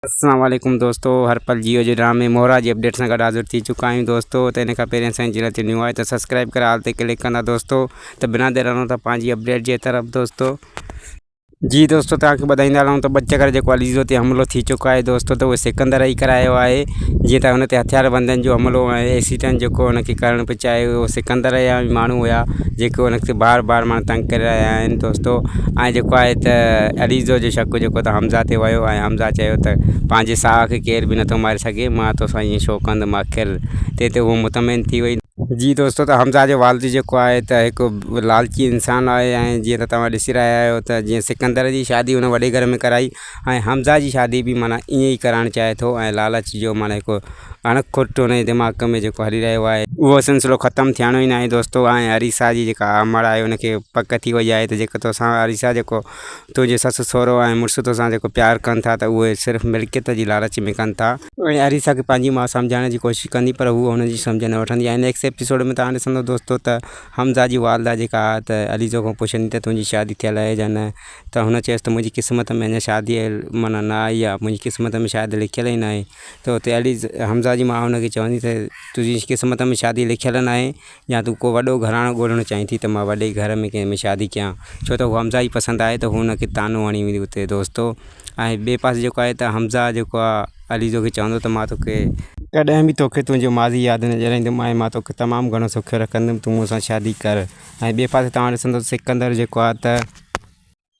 اسلام عليڪم دوستو هر پل جيو جي ڊرامي مورا جي اپڊيٽ سان گڏ حاضر ٿي چڪا آهيون دوستو ته ان کان پهرين اسان جي چينل تي نيو آهي ته سبسڪرائب ڪري آل تي ڪلڪ ڪندا دوستو ته بنا دير هلون ٿا پنهنجي اپڊيٽ جي طرف دوستو جي دوستو توهان کي ٻڌائيندا هلون ته ٻه چڪر جيڪو علي زيرو تي حملو ٿي چڪو آهي دوستو ته اهو سڪندر ئي ڪرايو آهي جيئن ته هن تي هٿيار بندن جو حملو ۽ ايسيٽن جيڪو هن کي ڪرڻ پئي چاهي اهو سڪندر جا ماڻهو هيا جيڪو هن کي بار بار ماڻهو تنگ ڪري رهيا آهن دوستو ۽ جيڪو آهي ته علي زو جو شڪ جيڪو ته حمزه تي ويو ۽ حمزه چيو ته پنهنجي ساهه کي ڪير به نٿو ماري سگهي، مان تو سان ايئن ڇو ڪندم آخر؟ تنهن تي هوء مطمئن ٿي وئي. جي دوستو ته حمزه جو والد جيڪو آهي ته هڪ لالچي انسان آهي ۽ جيئن ته توهان ڏسي رهيا آهيو ته جيئن سڪندر جي شادي هن وڏي گهر ۾ ڪرائي ۽ حمزه جي شادي به معنيٰ ايئن ئي ڪرائڻ چاهي ٿو ۽ لالچ جو معنيٰ هڪ اڻ کوٽ هن جي دماغ ۾ جيڪو هلي رهيو آهي، اهو سلسلو ختم ٿيڻو ئي ناهي دوستو ۽ اريسا جي جيڪا آمڙ آهي ان کي پڪ ٿي وئي آهي ته جيڪو تو سان اريسا جيڪو تنهنجي سس سهرو ۽ مڙس توسان جيڪو پيار ڪن ٿا ته اهو صرف ملڪيت جي لالچ ۾ ڪن ٿا. اهڙي اريسا کي پنهنجي ماء سمجهائڻ جي ڪوشش ڪندي پر هوء هن جي سمجهه نه وٺندي آهي. نيڪسٽ ايپيسوڊ ۾ توهان ڏسندو دوستو ته حمزه جي والده جيڪا آهي ته عليزو کان پڇندي ته تنهنجي شادي ٿيل اهي جا نه ته هن چيس ته منهنجي قسمت ۾ اڃا شادي معنيٰ نه آئي آهي منهنجي قسمت ۾ شايد لکيل ئي ناهي ته اتي عليز حمزه جي ماء هن کي چوندي ته تنهنجي قسمت ۾ شادي لکيل ناهي يا تون ڪو وڏو گهراڻو ڳولڻ چاهين ٿي ته مان وڏي گهر ۾ ڪنهن ۾ شادي ڪيان ڇو ته هو حمزه جي پسند آهي ته هو هن کي طعنو هڻي ويندي اتي دوستو ۽ ٻئي پاسي جيڪو آهي ته حمزه جيڪو آهي عليزو کي چوندو ته مان توکي ڪڏهن به توکي تنهنجو ماضي ياد نه ڏياريندم ۽ مان توکي تمام گهڻو سوکيو رکندم تون مون سان شادي ڪر ۽ ٻئي پاسي توهان ڏسندو ته سڪندر جيڪو آهي ته.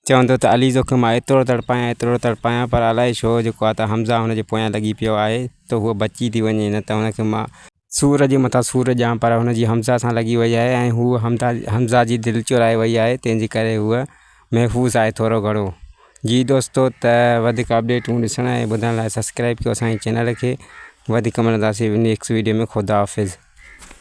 چوندو ته علي زوڪي مان ايترو تڙپايان ايترو تڙپايان پر الائي ڇو جيڪو آهي ته حمزه هن جي پويان لڳي پيو آهي ته هو بچي ٿي وڃي نه ته هن کي مان سور جي مٿان سور ڏيان پر هن جي حمزه سان لڳي وئي آهي ۽ هو حمزه حمزه جي دل چورائي وئي آهي تنهن جي ڪري هو محفوظ آهي ٿورو گهڻو جي دوستو ته وڌيڪ اپڊيٽون ڏسڻ ۽ ٻڌڻ لاء سبسڪرائب ڪيو اسان جي چينل کي وڌيڪ ملنداسين نيڪسٽ ويڊيو ۾ خدا حافظ